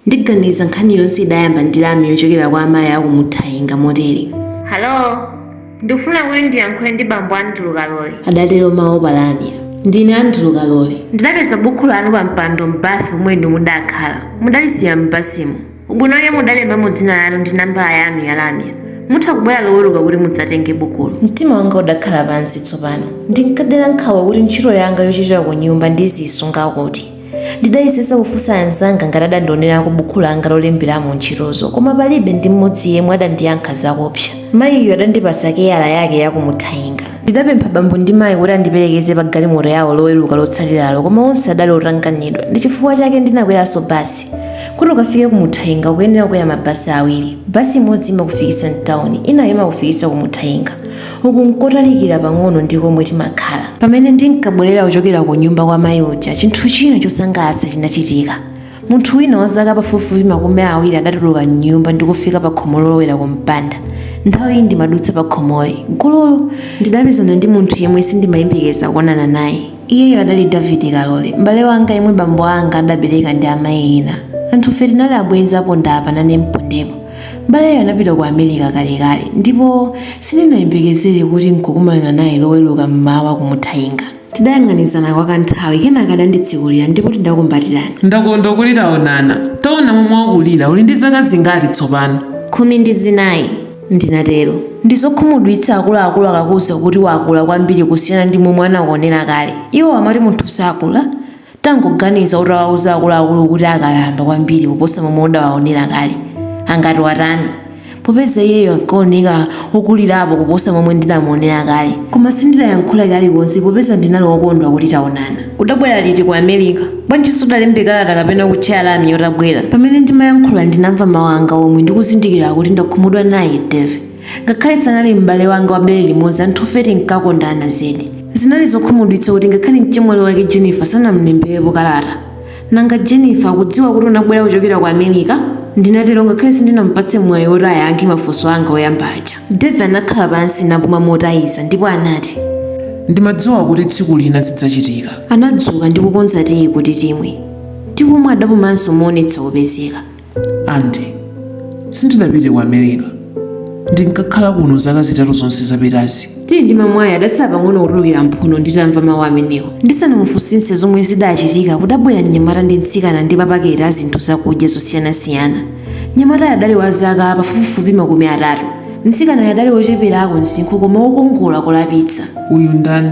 Ndiganiza nkhani yonse idayamba ndi lamya yochokera kwa amayi a ku Muthainga motere. Hallo! Ndikufuna kuti ndiyankhule ndi bambo Andrew Kalole. Adatero mawu pa lamya. Ndine Andrew Kalole. Ndidapeza bukhu lanu pa mpando m'basi pomwe inu mudakhala. Mudalisiya m'basimo. Ubwino wake mudalembamo dzina lanu ndi nambala yanu ya lamya. Mutha kubwera Loweruka kuti mudzatenge bukulo. Mtima wanga udakhala pansi tsopano. Ndinkadera nkhawa kuti ntchito yanga yochitira kunyumba ndiziisunga kuti. Ndidayesetsa kufunsa anzanga ngati adandionerako buku langa lolemberamo ntchitozo koma palibe ndi mmodzi yemwe adandiyankha zakupsa. Mayiyo adandipatsa keyala yake ya ku Muthainga. Ndidapempha bambo ndi mayi kuti andiperekeze pa galimoto yawo Loweruka lotsatiralo koma onse adali otanganidwa, ndi chifukwa chake ndinakweranso basi. Kuti ukafike ku Muthainga ukuyenera kukwera mabasi awiri. Basi imodzi imakufikitsa m'tauni, inayo imakufikitsa ku Muthainga. Uku n'kotalikira pang'ono ndi komwe timakhala. Pamene ndinkabwerera kuchokera kunyumba kwa mayi uja, chinthu china chosangalatsa chinachitika. Munthu wina wa zaka pafupifupi makumi awiri adatuluka m'nyumba ndi kufika pakhomo lolowera kumpanda. Nthawiyi ndimadutsa pakhomoli, gululu! Ndidapezana ndi munthu yemwe sindimayembekeza kuonana naye. Iyeyo adali David Kalole, m'bale wanga yemwe bambo anga adabereka ndi amayi ena. Anthufe tinali abwenzi aponda apa nane mpondepo. M'baleyo anapita ku America kalekale, ndipo sindinayembekezere kuti n'kukumana naye Loweruka m'mawa ku Muthainga. Tidayang'anizana kwa kanthawi, kenaka adanditsekulira ndipo tidakumbatirana. Ndakondwa kuti taonana. Taona momwe wakulira. Uli ndi zaka zingati tsopano? Khumi ndi zinai, ndinatero. Ndi zokhumudwitsa akuluakulu akakuuza kuti wakula kwambiri kusiyana ndi momwe anakuonera kale. Iwo amati munthu sakula. Tangoganiza utawauza akuluakulu kuti akalamba kwambiri kuposa momwe udawaonera kale, angati watani? Popeza iyeyo ankaoneka wokulirapo kuposa momwe ndinamuonera kale. Koma sindidayankhule kalikonse popeza ndinali wokondwa kuti taonana. Udabwera liti ku America? Bwanji sudalembe kalata kapena kutchaya lamya utabwera? Pamene ndimayankhula ndinamva mawu anga omwe ndi kuzindikira kuti ndakhumudwa naye Davey. Ngakhale sanali m'bale wanga wa bere limodzi, anthufe tinkakondana zedi. Zinali zokhumudwitsa kuti ngakhale mchemwali wake Jennifer sanam'lemberepo kalata. Nanga Jennifer akudziwa kuti unabwera kuchokera ku America? Ndinatero ngakhale sindinampatse mwayi woti ayankhe mafunso anga oyamba aja. David anakhala pansi napuma motaiza ndipo anati. Ndimadziwa kuti tsiku lina zidzachitika. Anadzuka ndi kukonza tiyi kuti timwe. Tikumwa adapumanso moonetsa kupezeka. Andy, sindinapite ku America. Ndinkakhala kuno zaka zitatu zonse zapitazi. Tiyi ndimamwayo adatsala pang'ono kutulukira m'mphuno nditamva mawu amenewo ndisanamufunsitse zomwe zidachitika kudabwera mnyamata ndi mtsikana ndi mapaketi a zinthu zakudya zosiyanasiyana mnyamatayo adali wa zaka pafupifupi makumi atatu mtsikanayo adali wocheperako msinkhu koma wokongola kolapitsa Uyu ndani?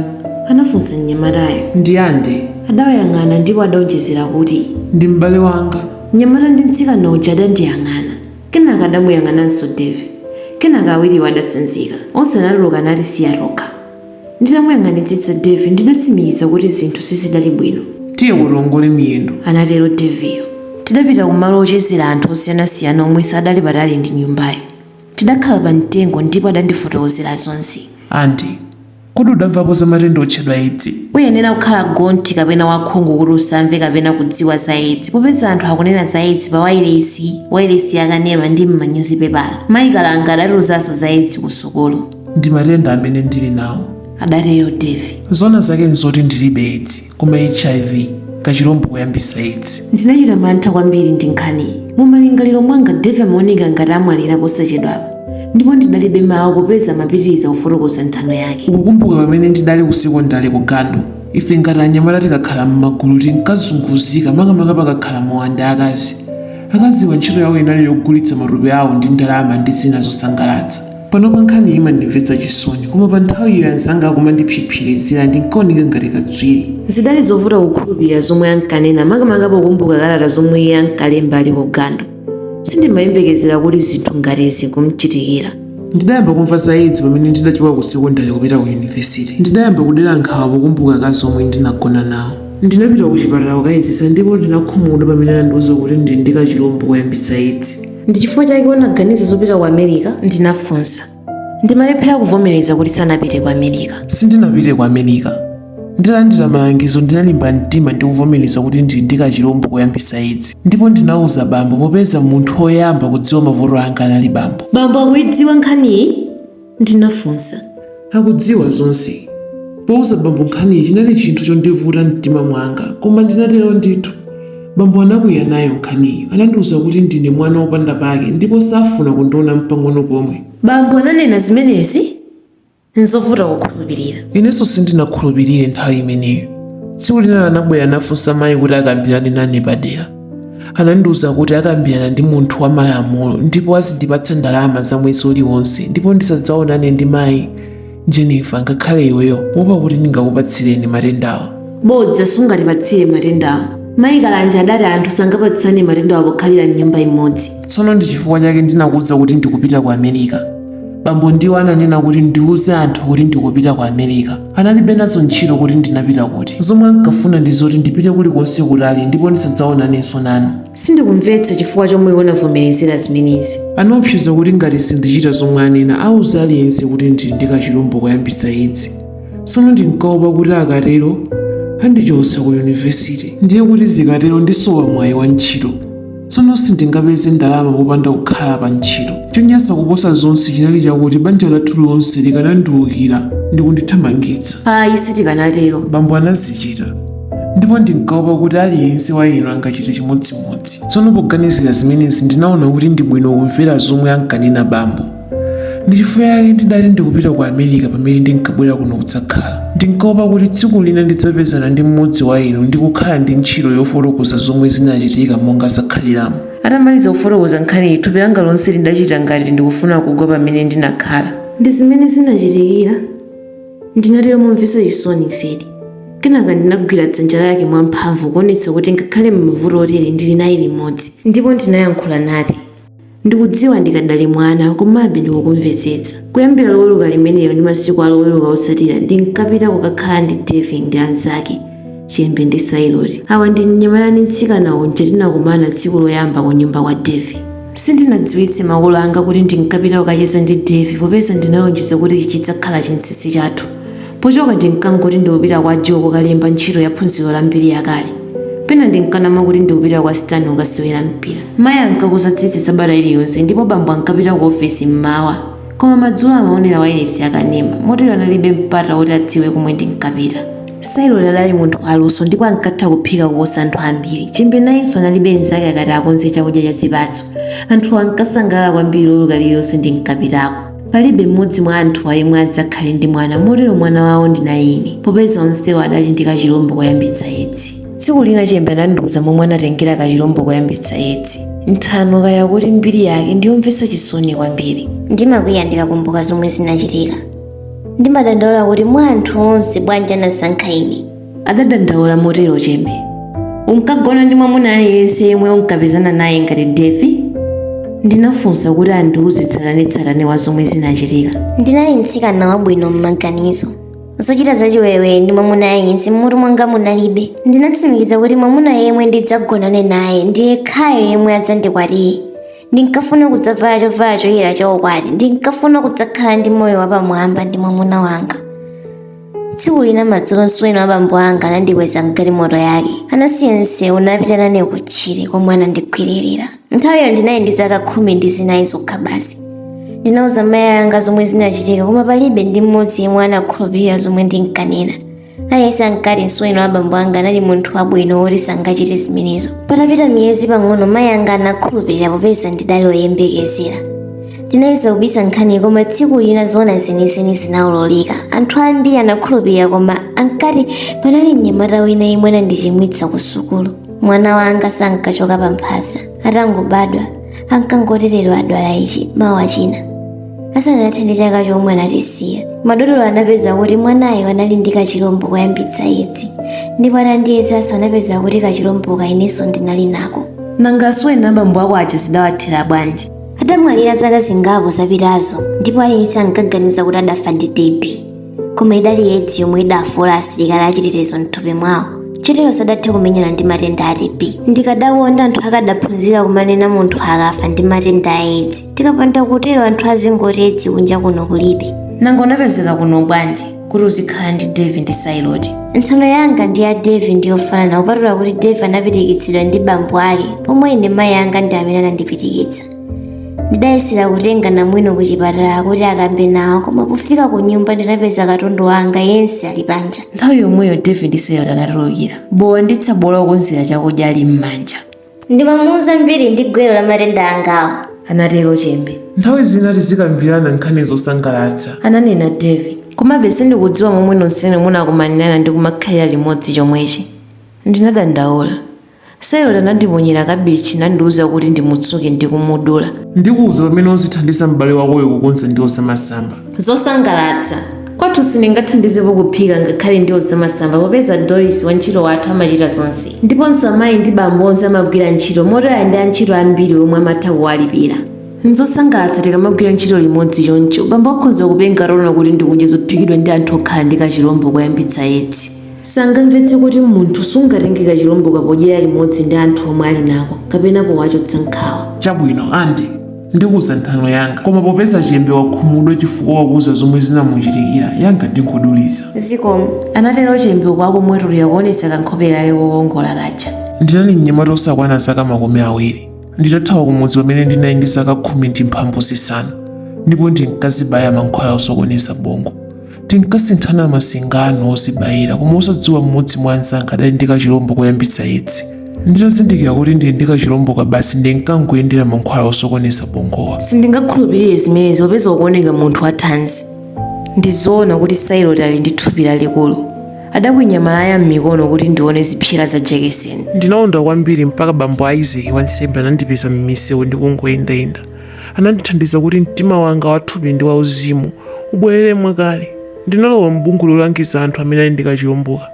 anafunsa mnyamatayo Ndi Andy. adawayang'ana ndipo adaonjezera kuti Ndi m'bale wanga. Mnyamata ndi mtsikana uja adandiyang'ana, kenaka adamuyang'ananso Davie. Kenaka awiriwo adatsanzika. Onse anatuluka natisiya tokha. Nditamuyang'anitsitsa Davie ndidatsimikiza kuti zinthu sizidali bwino. Tiye kuti tiongole miyendo. Anatero Davieyo. Tidapita kumalo ochezera anthu osiyanasiyana omwe sadali patali ndi nyumbayo. Tidakhala pamtengo ndipo adandifotokozera zonse. Andy, Kodi udamvapo za matenda otchedwa Edzi? Uyenera kukhala gonthi kapena wakhungu kuti usamve kapena kudziwa za Edzi. Popeza anthu akunena za Edzi pa wailesi, wailesi ya kanema ndi m'manyuzipepala, Mayi Kalanga adatiuzanso za Edzi kusukulu. Ndi matenda amene ndili nawo. adatero Davie. Zoona zake n'zoti ndilibe Edzi. Koma HIV, kachilombo koyambitsa Edzi. Ndinachita mantha kwambiri ndi nkhaniyi. Mu malingaliro mwanga Davie amaoneka ngati amwalira posachedwapa, ndipo ndinalibe mawu popeza amapitiriza kufotokoza nthano yake. Ukukumbuka pamene ndidali ku sekondale ku Gandu? Ife ngati anyamata tikakhala m'magulu tinkazunguzika makamaka pakakhala mowa ndi akazi. Akaziwa ntchito yawo inali yogulitsa matupi awo ndi ndalama ndi zina zosangalatsa. Panopa nkhaniyi imandimvetsa chisoni, koma pa nthawiyo anzanga akumandipsipsirizira ndinkaoneka ngati katswiri. Zidali zovuta kukhulupirira zomwe ankanena makamaka pokumbuka kalata zomwe iye ankalemba ali ku Gandu. Sindimayembekezera kuti zinthu ngati izi kumchitikira. Ndidayamba kumva za Edzi pamene ndidachoka ku sekondale kupita ku yunivesite. Ndidayamba kudera nkhawa pokumbuka akazi omwe ndinagona nawo. Ndinapita kuchipatala kukayezetsa ndipo ndinakhumudwa pamene anandiuza kuti ndili ndi kachilombo koyambitsa Edzi. Ndi chifukwa chake unaganiza zopita ku America. Ndinafunsa. Ndimalephera kuvomereza kuti sanapite ku America. Sindinapite ku America. Nditalandira malangizo ndinalimba mtima ndi kuvomereza kuti ndili ndi kachilombo koyambitsa edzi ndipo ndinauza bambo popeza munthu woyamba kudziwa mavuto anga anali bambo. Bambo akuidziwa nkhaniyi? Ndinafunsa. Akudziwa zonse. Pouza bambo nkhaniyi chinali chinthu chondivuta m'mtima mwanga, koma ndinatero ndithu. Bambo anakwiya nayo nkhaniyo. Anandiuza kuti ndine mwana wopanda pake ndipo safuna kundiona mpang'ono pomwe. Bambo ananena zimenezi? N'zovuta kukhulupirira. Inenso sindinakhulupirire nthawi imeneyo. Tsiku lina anabwera nafunsa mayi kuti akambirane nane padera. anandiuza kuti akambirana ndi munthu wa malamulo ndipo azindipatsa ndalama za mwezi uliwonse ndipo ndisadzaonane ndi mayi jennifer ngakhale iweyo kuopa kuti ndingakupatsireni matendawo bodza sungatipatsire matendawo mayi kalanja adati anthu sangapatsane matendawo pokhalira mnyumba imodzi tsono ndi chifukwa chake ndinakuuza kuti ndikupita ku america bambo ndiwo ananena kuti ndiuze anthu kuti ndikupita ku america Analibe nazo ntchito kuti ndinapita kuti. Zomwe ankafuna ndi zoti ndipite kulikonse kutali ndipo ndisadzaonanenso nanu. Sindikumvetsa chifukwa chomwe iwe unavomerezera zimenezi. Anaopseza kuti ngati sindichita zomwe anena auza aliyense kuti ndili ndi kachilombo koyambitsa Edzi. Tsono ndinkaopa kuti akatero andichotsa ku yunivesite. Ndiye kuti zikatero ndisowa mwayi wa ntchito. tsono sindingapeze ndalama popanda kukhala pa ntchito chonyansa kuposa zonse chinali chakuti banja lathu lonse likanandiukira ndi kundithamangitsa ayi sitikanatero bambo anazichita ndipo ndinkaopa kuti aliyense wa inu angachite chimodzimodzi tsono poganizira zimenezi ndinaona kuti ndi bwino kumvera zomwe ankanena bambo ndi chifukwa chake ndidali ndikupita ku america pamene ndinkabwera kuno kudzakhala ndinkaopa kuti tsiku lina ndidzapezana ndi mmodzi wa inu ndi kukhala ndi ntchito yofotokoza zomwe zinachitika monga zakhaliramo atamaliza kufotokoza nkhaniyi thupi langa lonse lidachita ngati ndikufuna kugwa pamene ndinakhala ndi zimene zinachitika ndinatero momvetsa chisoni zedi kenaka ndinagwira dzanja lake mwamphamvu kuonetsa kuti ngakhale m'mavuto otere ndili naye limodzi ndipo ndinayankhula nati Ndikudziwa ndikadali mwana, komabe ndikukumvetsetsa. Kuyambira Loweruka limenelo ndi masiku a Loweruka otsatira, ndinkapita kukakhala ndi Devi ndi anzake, Chembe ndi Sailoti. Awa ndi mnyamata ndi mtsikana uja tinakumana tsiku loyamba kunyumba kwa Devi. Sindinadziwitse makolo anga kuti ndinkapita kukacheza ndi Devi popeza ndinalonjeza kuti chidzakhala chinsinsi chathu. Pochoka ndinkangoti ndikupita kwa Joe kukalemba ntchito ya phunziro la mbiri yakale. Pena ndinkanama kuti ndikupita kwa Stan kukasewera mpira. Mayi ankakonza tsitsi sabata iliyonse ndipo bambo ankapita ku ofesi m'mawa. Koma madzulo amaonera wailesi yakanema, motero analibe mpata woti adziwe komwe ndinkapita. Sailoti anali munthu waluso ndipo ankatha kuphika kuposa anthu ambiri. Chembe nayenso analibe mnzake akati akonze chakudya cha zipatso. Anthuwo ankasangalala kwambiri Loweruka lililonse ndinkapitako. Palibe mmodzi mwa anthuwa yemwe adzakhale ndi mwana, motero mwana wawo ndinali ine, popeza onsewo adali ndi kachilombo koyambitsa Edzi. Tsiku lina Chembe anandiuza momwe anatengera kachilombo koyambitsa Edzi, nthano kaya kuti mbiri yake ndi yomvetsa chisoni kwambiri. Ndimakwiya ndikakumbuka zomwe zinachitika. Ndimadandaula kuti mwa anthu onse bwanji anasankha ine, adadandaula motero Chembe. Unkagona ndi mwamuna aliyense yemwe unkapezana naye ngati Devi? Ndinafunsa kuti andiuze tsatanetsatane wa zomwe zinachitika. Ndinali mtsikana wabwino m'maganizo. Zochita zachiwerewere ndi mwamuna aliyense m'mutu mwanga munalibe. Ndinatsimikiza kuti mwamuna yemwe ndidzagonane naye ndi yekhayo yemwe adzandikwatire. Ndinkafuna kudzavala chovala choyera chaukwati. Ndinkafuna kudzakhala ndi moyo wapamwamba ndi mwamuna wanga. tsiku lina madzulo msuweni wa bambo anga anandikweza mgalimoto yake anasiya msewu napita nane kutchire komwe anandigwiririra nthawiyo ndinali ndi zaka khumi ndi zinayi zokha basi ndinauza mayi anga zomwe zinachitika koma palibe ndi mmodzi yemwe anakhulupirira zomwe ndinkanena aliyense ankati msuweni wa bambo anga anali munthu wabwino woti sangachite zimenezo patapita miyezi pang'ono mayi anga anakhulupirira popeza ndidali oyembekezera Tinayesa kubisa nkhani koma tsiku lina zoona zenizeni zinaululika. Anthu ambiri anakhulupirira koma ankati panali mnyamata wina yemwe anandichimwitsa ku sukulu. Mwana wanga sankachoka pa mphasa. Atangobadwa, ankangoti lero adwala ichi, mawa china. Asanathe ndi chaka chomwe anatisiya. Madotolo anapeza kuti mwanayo anali ndi kachilombo koyambitsa edzi ndipo atandiyezanso anapeza kuti kachilomboka inenso ndinali nako. Nanga asuweni a bambo ako aja zidawathera bwanji? adamwalira zaka zingapo zapitazo ndipo aliyense ankaganiza kuti adafa ndi TB koma idali edzi yomwe idafoola asilikali achitetezo mthupi mwawo chotero sadathe kumenyana ndi matenda a TB ndikadakonda anthu akadaphunzira kumanena munthu akafa ndi matenda a edzi tikapanda kutero anthu azingoti edzi kunja kuno kulibe nanga unapezeka kuno bwanji kuti uzikhala ndi Dave ndi Sailoti. Nthano yanga ndi ya Dave ndi yofanana kupatula kuti Dave anapitikitsidwa ndi bambo ake pomwe ine mayi anga ndi amene anandipitikitsa. Ndidayesera kutenga namwino ku chipatala kuti akambe nawo koma pofika ku nyumba ndinapeza katundu wanga yense ali panja. Nthawi yomweyo Dave ndi Sailoti anatulukira. Bowa ndi tsabola okonzera chakudya ali m'manja. Ndimamuuza mbiri ndi gwero la matenda angawo. Anatero Chembe. Nthawi zina tizikambirana nkhani zosangalatsa. Ananena Davy. Komabe sindikudziwa momwe nonsenu munakumanirana ndi kumakhalira limodzi chomwechi. Ndinadandaula. Sailoti anandiponyera kabichi nandiuza kuti ndimutsuke ndi kumudula. Ndikuuza pamene uzithandiza m'bale wakoyo kukonza ndiwo zamasamba. Zosangalatsa. Kwathu sindingathandizepo kuphika ngakhale ndiwo zamasamba popeza Doris, wantchito wathu, amachita zonse. Ndiponso amayi ndi bambo onse amagwira ntchito moti ali ndi antchito ambiri omwe amatha kuwalipira. N'zosangalatsa tikamagwira ntchito limodzi choncho. Bambo akhoza kupenga ataona kuti ndikudya zophikidwa ndi anthu okhala ndi kachilombo koyambitsa Edzi. Sangamvetse kuti munthu sungatenge kachilomboka podyera limodzi ndi anthu omwe ali nako kapena powachotsa nkhawa. Chabwino, Andy. Ndikuuza nthano yanga. Koma popeza Chembe wakhumudwa chifukwa wakuuza zomwe zinamuchitikira, yanga ndingoduliza. Zikomo, anatero Chembe uku akumwetulira kuonetsa kankhope kake kokongola kaja. Ndinali mnyamata wosakwana zaka makumi awiri nditathawa kumudzi pamene ndinali ndi zaka khumi ndi mphambu zisanu ndipo ndinkazibaya mankhwala osokoneza bongo. Tinkasinthana masingano ozibayira koma osadziwa mmodzi mwa anzanga adali ndi kachilombo koyambitsa edzi. Nditazindikira kuti ndili ndi kachilomboka basi ndinkangoyendera mankhwala osokoneza bongowa. Sindingakhulupirire zimenezi popeza ukuoneka munthu wathanzi. Ndi zoona kuti Sailoti ali ndi thupi lalikulu. Adakwinya malaya m'mikono kuti ndione zipsera za jekeseni. Ndinaonda kwambiri mpaka bambo Isaac wansembe anandipeza m'misewu ndikungoyendayenda. anandithandiza kuti mtima wanga wathupi ndi wauzimu ubwerere mwakale. Ndinalowa m'bungwe lolangiza anthu amene ali ndi kachilomboka.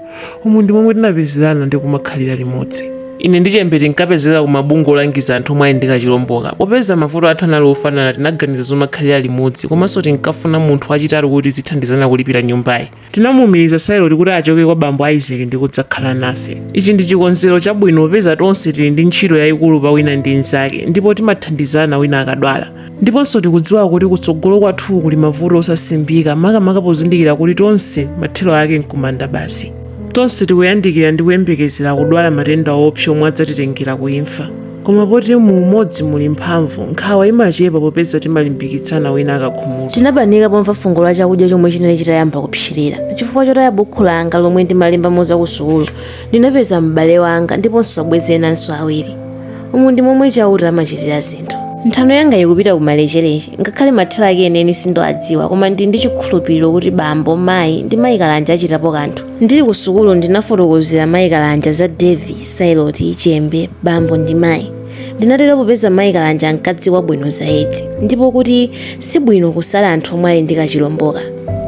Umu ndi momwe tinapezerana ndi kumakhalira limodzi. Ine ndi Chembe tinkapezeka ku mabungwe olangiza anthu omwe ali ndi kachilomboka. Popeza mavuto athu anali ofanana, tinaganiza zomakhalira limodzi. Komanso tinkafuna munthu wachitatu kuti tizithandizana kulipira nyumbayi. tinamuumiriza sailoti kuti achoke kwa bambo isaac ndi kudzakhala nafe ichi ndi chikonzero chabwino popeza tonse tili ndi ntchito yayikulu pa wina ndi mnzake ndipo timathandizana wina akadwala ndiponso tikudziwa kuti kutsogolo kwathu kuli mavuto osasimbika makamaka pozindikira kuti tonse mathero ake nkumanda basi tonse tikuyandikira ndi kuyembekezera kudwala matenda oopsa omwe adzatitengera ku imfa Koma poti mu umodzi muli mphamvu, nkhawa imachepa popeza timalimbikitsana wina akakhumudwa. Tinabanika pomva fungo la chakudya chomwe chinali chitayamba kupsirira. Chifukwa chotaya bukhu langa lomwe ndimalembamo za kusukulu, ndinapeza m'bale wanga ndiponso abwenzi enanso awiri. Umu ndi momwe Chauta amachitira zinthu. Nthano yanga ikupita ku malecheleche. Ngakhale mathero ake enieni sindiwadziwa, koma ndili ndi chikhulupiriro kuti bambo, mayi, ndi mayi Kalanja achitapo kanthu. Ndili ku sukulu ndinafotokozera mayi Kalanja za Davie, Sailoti, Chembe, Bambo ndi mayi. Ndinatero popeza mayi Kalanja ankadziwa bwino za Edzi ndipo kuti si bwino kusala anthu omwe ali ndi kachilomboka.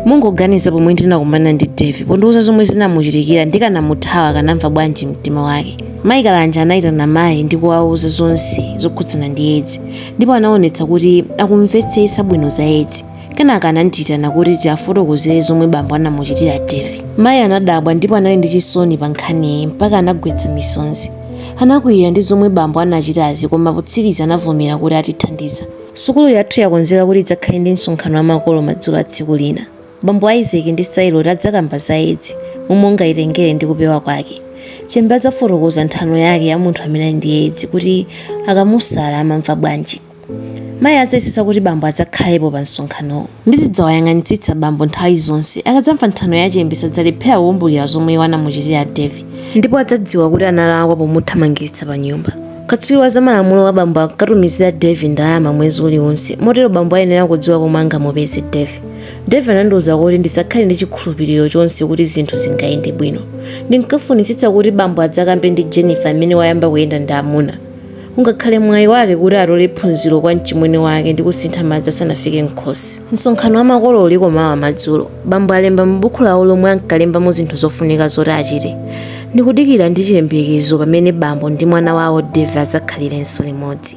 Mungoganiza pomwe ndinakumana ndi Davie pondiuza zomwe zinamuchitikira ndikanamuthawa akanamva bwanji mumtima wake? Mayi Kalanja anaitana mayi ndi kuwauza zonse zokhudzana ndi Edzi ndipo anaonetsa kuti akumvetsetsa bwino za Edzi. Kenaka anandiitana kuti tiafotokozere zomwe bambo anamuchitira Davie. Mayi anadabwa ndipo anali ndi chisoni pa nkhaniyi mpaka anagwetsa misonzi. Anakwiyira ndi zomwe bambo anachitazi koma potsiriza anavomera kuti atithandiza. Sukulu yathu yakonzeka kuti idzakhale ndi msonkhano wa makolo madzulo a tsiku lina. Bambo Isaac ndi Sailoti adzakamba za Edzi, momwe ungaitengere ndi kupewa kwake. Chembe adzafotokoza nthano yake ya munthu amene ali ndi Edzi kuti akamusala amamva bwanji. Mayi adzayesetsa kuti bambo adzakhalepo pa msonkhanowo. Ndizidzawayang'anitsitsa bambo nthawi zonse. Akadzamva nthano ya Chembe sadzalephera kukumbukira zomwe iwo anamuchitira Davie ndipo adzadziwa kuti analakwa pomuthamangitsa panyumba. Katswiri wa zamalamulo wa bambo ankatumizira Davie ndalama mwezi uliwonse motero bambo ayenera kudziwa komwe angamupeze Davie. Davie anandiuza kuti ndisakhale ndi chikhulupiriro chonse kuti zinthu zingayende bwino. Ndinkafunitsitsa kuti bambo adzakambe ndi Jennifer amene wayamba kuyenda ndi amuna. Ungakhale mwayi wake kuti atole phunziro kwa mchimwene wake ndi kusintha madzi asanafike m'khosi. Msonkhano wa makolo uliko mawa madzulo. Bambo alemba mu buku lawo lomwe ankalembamo zinthu zofunika zoti achite. Ndikudikira ndi chiyembekezo pamene bambo ndi mwana wawo Dave adzakhalirenso limodzi.